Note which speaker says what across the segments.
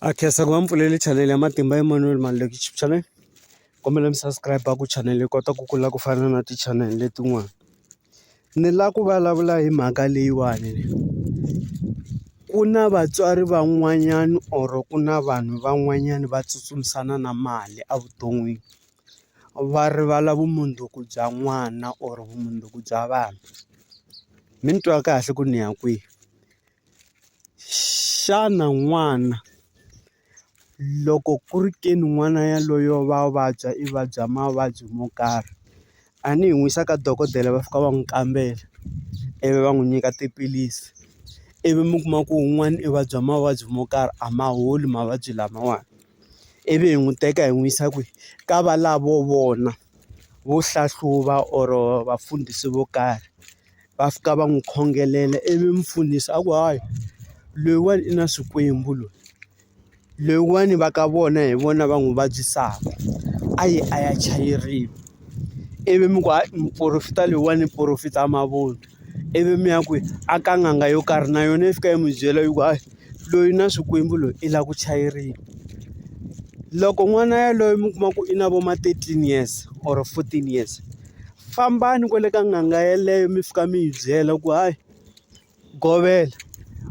Speaker 1: a khensa ku va mi pfulele chanele ya matimba Emmanuel Maluleke YouTube channel kombela mi subscribe ku chanele yi kota ku kula ku fana na ti chanel letin'wana ni lava ku vulavula hi mhaka leyiwani ku na vatswari van'wanyana or ku na vanhu van'wanyana va tsutsumisana na mali evuton'wini va rivala vumundzuku bya n'wana or vumundzuku bya vanhu mi ni twa kahle ku ni ya kwihi Xana n'wana loko ku ri ke ni n'wana yaloye wa vabya i vabya mavabyi mo karhi a ni yi n'wi yisa ka dokodela va fika va n'wi kambela ivi va n'wi nyika tiphilisi ivi mi kuma ku un'wana i vabya mavabyi mo karhi a ma holi mavabyi lamawani ivi hi n'wi teka hi n'wi yisa kwihi ka valavo vona vo hlahluva or vafundhisi vo karhi. va fika va n'wi khongelela ivi mi pfunisa a ku hayi loyiwani i na swikwembu loyi loyiwani va ka vona hi vona va n'wi vabyisaka a yi a ya chayeriwa ivi mi ku muporofeta loyiwani i porofeta mavunwa ivi mi ya ku a ka n'anga yo karhi na yona yi fika yi n'wi byela yi ku hayi loyi na swikwembu loyi i lava ku chayeriwa loko n'wana yaloye mi kuma ku i na vo ma thirteen years or fourteen years. fambani kwale ka n'anga yeleyo mi fika mi yi byela ku hayi govela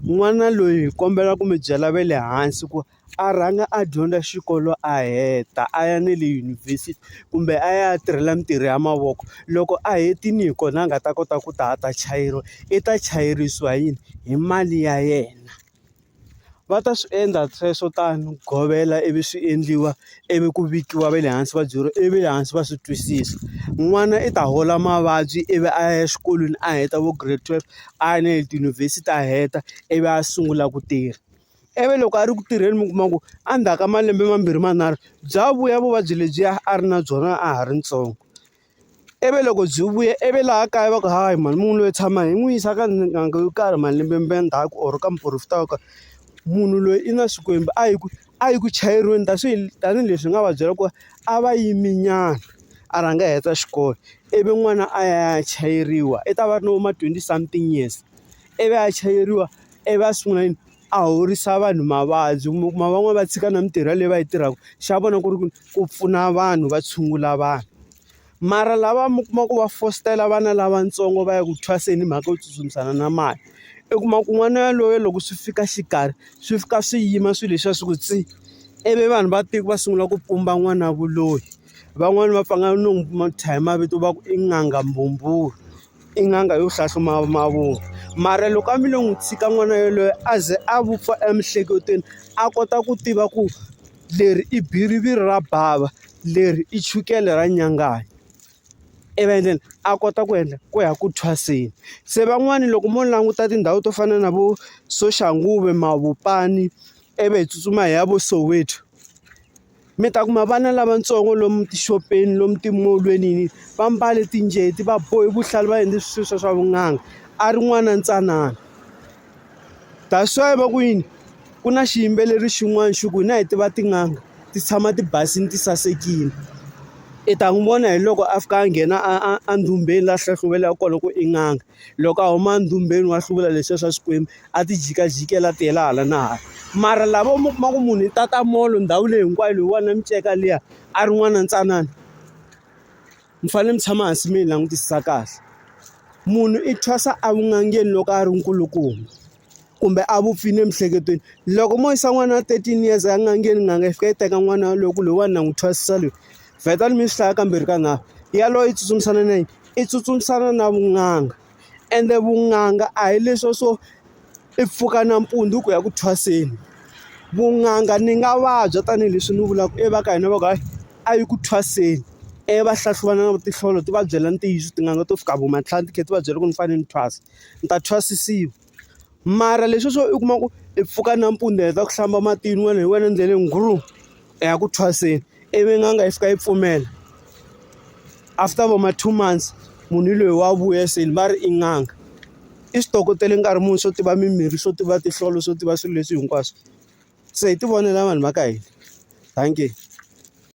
Speaker 1: n'wana loyi hi kombela ku mi byela ve le hansi ku a rhanga a dyondza xikolo a heta a ya ne le yunivhesiti kumbe a ya tirhela mintirho ya mavoko loko a hetini hi kona a nga ta kota ku ta a ta chayeriwa i ta chayerisiwa hi yini hi mali ya yena. Va ta swi endla sweswo tano ku govela ivi swi endliwa ivi ku vikiwa va le hansi va byeriwa ivi le hansi va swi twisisa. N'wana i ta hola mavabyi ivi a ya exikolweni a heta vo grade twelve a ya na le tiyunivhesiti a heta ivi a sungula ku tirha. Ivi loko a ri ku tirheni mi kuma ku endzhaku ka malembe mambirhi manharhu bya vuya vuvabyi lebyiya a ri na byona a ha ri ntsongo. ivi loko byi vuya ivi laha kaya va ku hayi mhani munhu loyi tshama hi n'wi yisa ka n'anga yo karhi malembe ma ndzhaku or ka muporofeta wo karhi munhu loyi i na xikwembu a yi ku a yi ku chayeriweni ta swi tanihileswi hi nga va byela ku va a va yimi nyana a rhanga a heta xikolo ivi n'wana a ya a ya chayeriwa i ta va ri na vo ma twenty something years ivi a chayeriwa ivi a sungula yini. a horisa vanhu mavabyi mi kuma van'wani va tshika na mintirho leyi va yi tirhaka xa vona ku ri ku ku pfuna vanhu va tshungula vanhu mara lava mi kuma ku va fositela vana lavatsongo va ya ku thwaseni hi mhaka yo tsutsumisana na mali i kuma ku n'wana yaloye loko swi fika xikarhi swi fika swi yima swilo leswiya swi ku tsi ivi vanhu va tiko va sungula ku pumba n'wana vuloyi van'wani va pfa nga no n'wi thya hi mavito va ku i n'anga mbhumbhuru I n'anga yo hlahluba mavunwa mara loko a mi lo n'wi tshika n'wana yaloye a ze a vupfa emiehleketweni a kota ku tiva ku leri i biriviri ra bava leri i chukele ra nyanganya ivi then a kota ku endla ku ya ku thwaseni se van'wani loko mo languta tindhawu to fana na vo Soshanguve, Mavopani ivi hi tsutsuma hi ya vo Soweto. mi ta kuma vana lavatsongo lomu tixopeni lomu timolweni yini va mbale tinjeti va bohe vuhlalu va endle swilo swa swa vun'anga a ri n'wana ntsanana that's why va ku yini ku na xiyimbeleri xin'wana xi ku hina hi tiva tin'anga ti tshama ti basile ti sasekile i ta n'wi vona hi loko a fika a nghena a a a ndhumeni laha hlahluvelaka kona ku i n'anga. loko a huma ndumbeni wa hluvula leswiya swa Xikwembu a ti jikajikela a tiyela hala na hala mara lavo mi kuma ku munhu i tata molo ndhawu leyi hinkwayo loyiwani na miceka liya a ri n'wana ntsanana mi fanele mi tshama hansi mi yi langutisisa kahle munhu i thwasa evun'angeni loko a ri nkulukumba kumbe a vupfile emiehleketweni loko mo yisa n'wana wa thirteen years a nga ngheni n'anga yi fika yi teka n'wana yaloye ku loyiwani na n'wi thwasisa loyi vheta ni mi swi hlaya kambirhi ka nharhu yaloye yi tsutsumisana na yini i tsutsumisana na vun'anga ende vun'anga a hi leswo swo i pfuka nampundzu ku ya ku thwaseni vun'anga ni nga vabya tanihileswi ni vulaka i va ka hina va ku hayi a yi ku thwaseni i va hlahluvana na tinhlolo ti va byela ntiyiso tin'anga to fika vo matlhari ti kha ti va byela ku ni fanele ni thwasa. ni ta thwasisiwa. Mara leswiya swo u kuma ku i pfuka nampundzu i heta ku hlamba matini wena hi wena endleleni grum i ya ku thwaseni ivi n'anga yi fika yi pfumela after vo ma two months munhu loyi wa vuya se va ri i n'anga. I swi tokotele nkarhi muni swo tiva mimirhi swo tiva tinhlolo swo tiva swilo leswi hinkwaswo se hi tivonela vanhu va ka hina dankie.